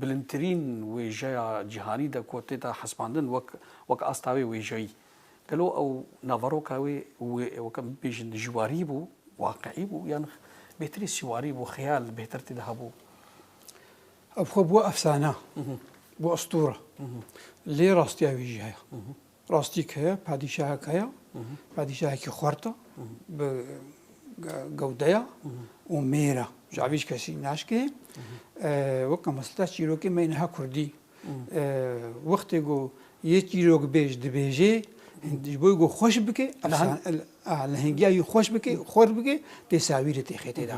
bilindtirîn wêjeya cîhanî de ku tê de hesibandin wek wek asta wê wêjeyî. Gelo ew naveroka wê wek em bibêjin dijwarî bû, waqiî bû yan bêhtirî sîwarî bû, xeyal bêhtir tê de hebû. Ev xwe bû efsane, bû estûre. Lê rastiya wêjeya. Rastî ke heye, padîşahek heye, padîşahekî xwert e, bi gewde ye û mêr e. Ji alî ji kesî naşkê. Weke mesleta çîrokê me niha kurdî. Wextê ku yê çîrokbêj dibêjê ji bo ku xweş bike, lehengiya wî xweş bike, xwert bike, tê sawîrê tê xêtê de.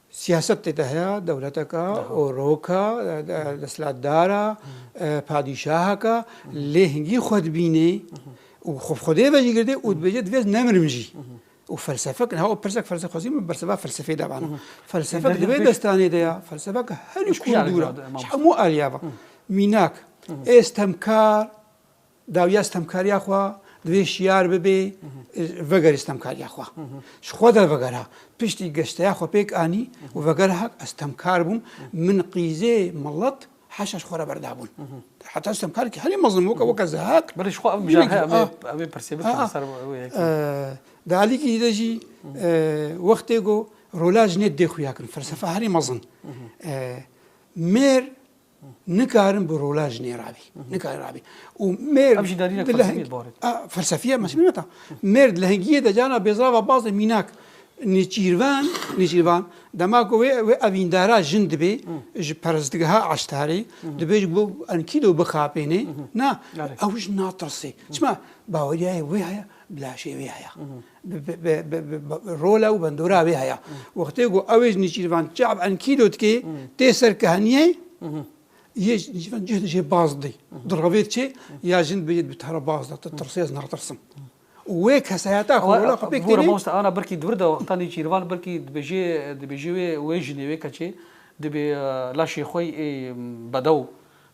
Siyaset tê de heya dewleteka, oroka, desthilatdara, padîşaheka lê hingî xwe dibînê û xwe bi xwedê ve jî girdê û dibêje divê ez nemirim jî. Û felsefek niha o pirsek felsefek xwezî min berseva felsefeyê de bana. Felsefek di vê destanê de ya felsefek herî kûr û dûr e ji hemû aliyeva. Mînak, ê stemkar Dawiya stemkariya xwe divê şiyar bibê vegerê stemkariya xwe. Ji xwe de vegera piştî geşteya xwe pêk anî û vegera hak ez stemkar bûm min qîzê milet heşa ji xwe re berdabûn. Heta stemkarkî herî mezlim weke weke ze hak Belê ji xwe ev mijara heye ev ê pirsê bikin li ser wê yekê. Di alîkî de jî wextê got rola jinê dê xuya kirin felsefa herî mezin mêr nikarin bi rola jinê rabî nikarin rabî û mêr felsefiye meşîneta mêr di lehengiyê de cana bêzrava bazê mînak nêçîrvan nêçîrvan dema ku wê wê evîndara jin dibê ji perestgeha eştarî dibê ji bo enkîdo bixapênê na ew ji natirsê çima baweriyayê wê heye bilaşê wê heye Rola û bendora wê heye. Wextê ku ew êj nêçîrvan çav enkîlo dikê tê ser ki heniyê yê nêçîrvan cih dijê baz didê. Diravê diçê ya jin bi bi tara baz de tu tirsê ez natirsim. Û wê kesayeta xwe rola xwe pêk tênê. Bûra mamoste ana birkî di wir de wexta nêçîrvan birkî dibêjê dibêjê wê wê jinê wê keçê dibê laşê xwe yê bedew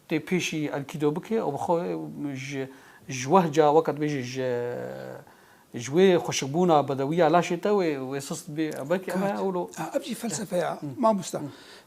tê pêşî enkîdo bike û bi xwe ji ji wehca weke dibêjê ji Ji wê xweşikbûna bedewiya laşê te wê wê sist bê e belkî em e ewlo. Ev jî felsefe ya mamosta.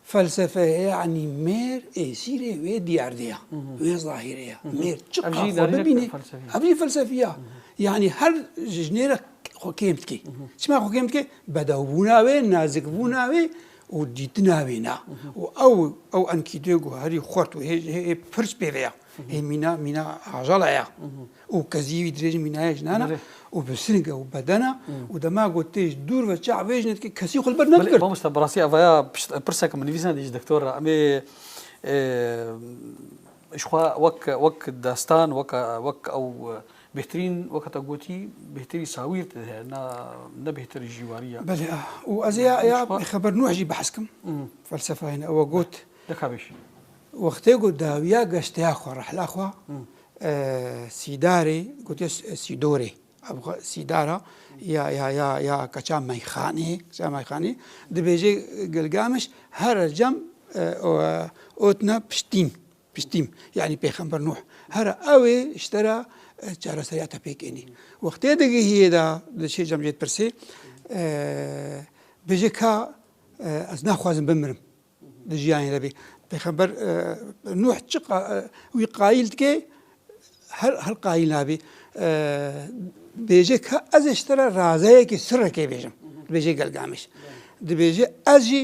Felsefe yanî mêr ê sîrê wê diyardê ya, wê zahîrê ya. Mêr çi qas xwe bibîne ev jî felsefî ya. Yanî her ji jinê re xwe kêm dike. Çima xwe kêm dike? Bedewbûna wê, nazikbûna wê û dîtina wê na. Û ew ew enkîdoya ku herî xurt û hê hê pirs pê ve ya. Hê mîna mîna ajala ya. û kezî wî dirêjin mînaye jinana û bi sirnge û bedena û dema ku tê ji dûr ve çax vê jine dike kesî xwe li ber nedigirt. Mamoste bi rastî ev ya pirsek min nivîsand ji doktor re em ê jixwe wek wek destan weka wek ew bêhtirîn weka te gotî bêhtirî sawîr tê de heye na ne bêhtir jî warî ye. Belê a û ez ê ya Xeber Nuh jî behs kim felsefayê ne ew got. Deka bêj. Wextê ku dawiya geşteya xwe rehla xwe Sîdarê gotiye Sîdorê. Ev xwe sîdara ya ya ya ya keça meyxanê keça meyxanê dibêje Gilgamiş her cem otne piştîn piştîm yanî pêxember Nuh her ew ê ji te re çareseriya te pêk ênî. Wextê digihiyê de diçe cem jê dipirsê bêje ka ez naxwazim bimirim. Di jiyanê de bê. Pêxember Nuh çi wî qayîl dike her her qayîl nabê. Bêje ka ez ê ji te re razeyekê sirekê bêjim. Dibêje gelgamiş. Dibêje ez jî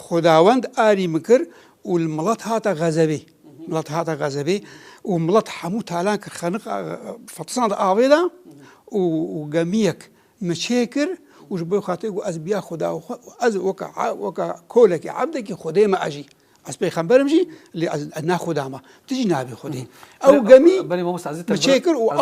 xudawend arî min kir û li milet hata xezebê. Milet hata xezebê û milet hemû talan kir xeniq fetisan de avê de û gemiyek Min çê kir û ji bo xatirê ku ez biya Xuda û ez weka weka kolekî ebdekî Xwedê me ez jî. Ez pêxember im jî lê ez ne Xuda me. Tu jî nabî Xwedê. Ew gemî min çê kir û.